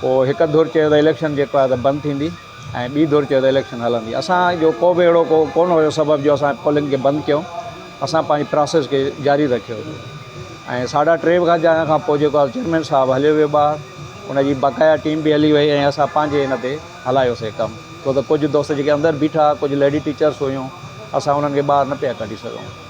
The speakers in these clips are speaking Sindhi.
پوء هڪ ڌر چيو ته اليڪشن جيڪو آهي ته بند ٿيندي ۽ ٻي ڌر چيو ته اليڪشن هلندي اسان جو ڪو به اهڙو ڪو ڪونه هيو سبب جو اسان پولنگ کي بند ڪيون اسان پنهنجي پراسيس کي جاري رکيو هيو ۽ ساڍا ٽي وڳا جائڻ کان پوء جيڪو آهي چيئرمين صاحب هليو ويو ٻاهر ان جي بقايا ٽيم به هلي وئي ۽ اسان پنهنجي ان تي هلايوسي ڪم ڇو ته ڪجهه دوست جيڪي اندر بيٺا ڪجهه ليڊي ٽيچرس هيون اسان انهن کي ٻاهر نه پيا ڪڍي سگهون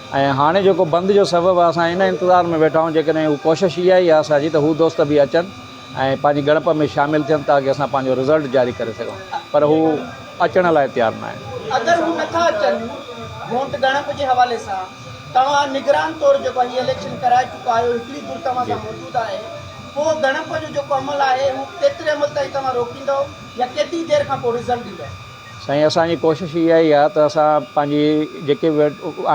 ۽ هاڻي جيڪو بند جو سبب آهي اسان ان انتظار ۾ ويٺا آهيون جيڪڏهن هو ڪوشش اها ئي آهي اسان جي ته هو دوست به اچن ۽ پنهنجي ڳڻپ ۾ شامل ٿين تاڪه اسان پنهنجو رزلٽ جاري ڪري سگهون پر هو اچڻ لاء تيار ناهن. اگر هو نٿا اچن ووٽ ڳڻپ جي حوالي سان توهان نگران طور جيڪو هي اليڪشن ڪرائي چڪا آهيو هڪڙي ڌر توهان سان موجود آهي پوء ڳڻپ جو جيڪو عمل آهي هو ڪيتري عمل تائين توهان روڪيندؤ يا ڪيتري دير کانپوء رزلٽ ڏيندؤ؟ سائين اسان جي ڪوشش اها ئي آهي ته اسان پنهنجي جيڪي به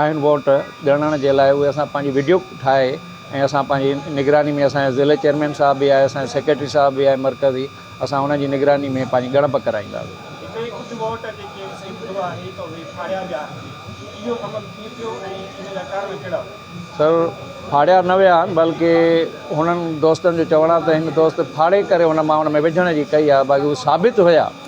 آهن ووٽ ڳڻڻ جي لاء اهي اسان پنهنجي وڊيو ٺاهي ۽ اسان پنهنجي نگراني ۾ اسان جي ضلعي چيئرمين صاحب به آهي اسان جي سيڪريٽري صاحب به آهي مرڪزي اسان ان جي نگراني ۾ پنهنجي ڳڻپ ڪرائيندا